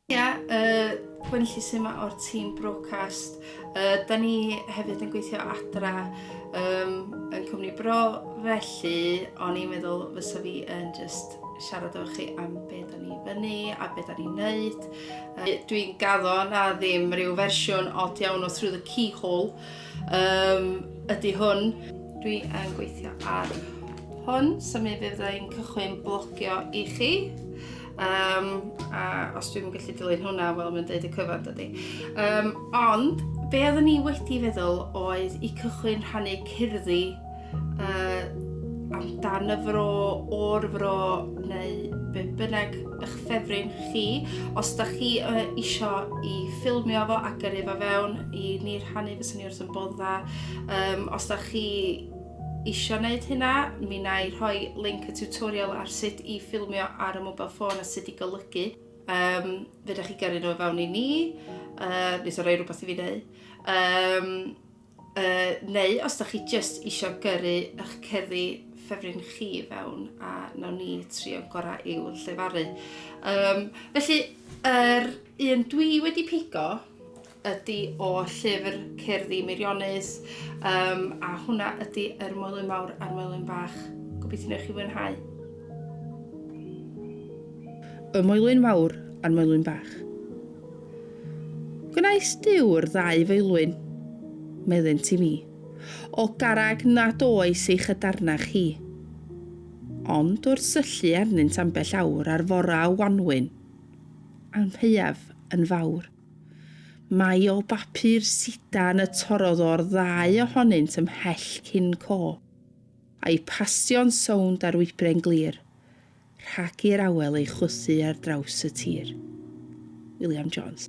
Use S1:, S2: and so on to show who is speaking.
S1: Ia, y Gwenllys yma o'r tîm Brocast. Uh, da ni hefyd yn gweithio adra um, yn cwmni bro, felly o'n i'n meddwl fysa fi yn just siarad efo chi am be da ni fyny a be da ni'n neud. Uh, Dwi'n gaddo na ddim rhyw fersiwn od iawn o Through the Keyhole, Yym, ydy hwn. Dwi yn gweithio ar hwn, so mi fydd ein cychwyn blogio i chi. Um, a os dwi'n gallu dilyn hwnna, wel, mae'n deud y cyfan, dydy. Um, ond, be oeddwn ni wedi feddwl oedd i cychwyn rhannu cerddi uh, amdan y fro, o'r fro neu be bynnag eich ffefryn chi. Os da chi uh, eisiau i ffilmio fo a gyrru fo fewn i ni rhannu fyswn ni wrth yn bod dda. Um, os da chi eisiau gwneud hynna, mi na i rhoi link y tutorial ar sut i ffilmio ar y mobile ffôn a sut i golygu. Um, fe da chi gyrru nhw fewn i ni, uh, nes o roi rhywbeth i fi wneud. Um, Uh, neu os da chi just isio gyrru eich cerddi ffefryn chi fewn a nawn ni trio'n gorau i'w llefaru. Um, felly, yr er un dwi wedi pigo ydy o llyfr cerddi Meirionus um, a hwnna ydy yr er mwelyn mawr a'r mwelyn bach. Gobeithio newch chi fwynhau. Y mwelyn mawr a'r mwelyn bach. Gwnaes dyw'r ddau feulwyn, meddynt i mi, o garreg nad oes ei chydarnach hi. Ond wrth syllu arnynt ambell awr ar fora y wanwyn, amheuaf yn fawr. Mai o bapur sidan y torrodd o'r ddau ohonynt ymhell cyn co. A'u pasio'n sownd ar wybren glir, rhag i'r awel ei chwysu ar draws y tir. William Jones.